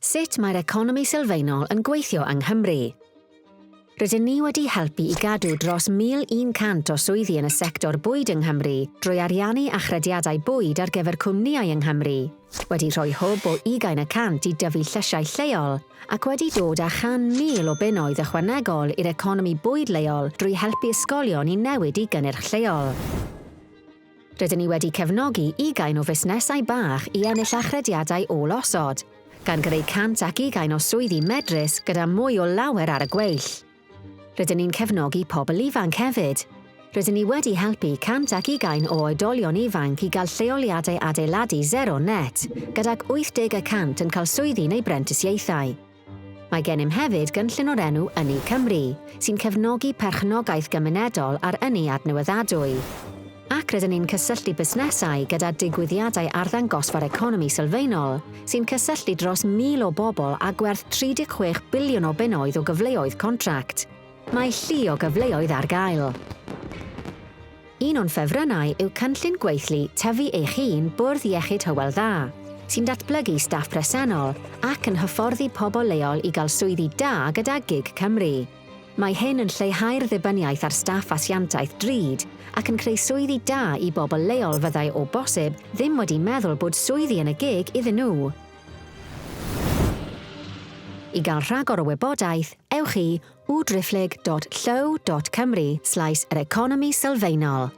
Sut mae'r economi sylfaenol yn gweithio yng Nghymru? Rydyn ni wedi helpu i gadw dros 1,100 o swyddi yn y sector bwyd yng Nghymru drwy ariannu achrediadau bwyd ar gyfer cwmnïau yng Nghymru, wedi rhoi hwb o ugain y cant i dyfu llysiau lleol ac wedi dod â chan mil o bunnoedd ychwanegol i'r economi bwyd leol drwy helpu ysgolion i newid i gynnyrch lleol. Rydyn ni wedi cefnogi ugain o fusnesau bach i ennill achrediadau ôl-osod, gan greu 101 o swyddi medrus gyda mwy o lawer ar y gweill. Rydyn ni'n cefnogi pobl ifanc hefyd. Rydyn ni wedi helpu 101 o oedolion ifanc i gael lleoliadau adeiladu zero net, gydag 80 y cant yn cael swyddi neu brentisiaethau. Mae gennym hefyd gynllun o'r enw Ynni Cymru, sy'n cefnogi perchnogaeth gymunedol a'r ynni adnewyddadwy. Ac rydyn ni'n cysylltu busnesau gyda digwyddiadau arddangosfa'r economi sylfaenol, sy'n cysylltu dros 1,000 o bobl â gwerth 36 biliwn o bunnoedd o gyfleoedd contract. Mae llu o gyfleoedd ar gael. Un o'n ffefrynnau yw cynllun gweithlu Tyfu Eich Un Bwrdd Iechyd Hywel Dda, sy'n datblygu staff presennol ac yn hyfforddi pobl leol i gael swyddi da gyda gig Cymru. Mae hyn yn lleihau'r ddibyniaeth ar staff asiantaeth drud ac yn creu swyddi da i bobl leol fyddai o bosib ddim wedi meddwl bod swyddi yn y gig iddyn nhw. I gael rhagor o wybodaeth, ewch i www.driphlyg.llyw.cymru slaes yr economi sylfaenol.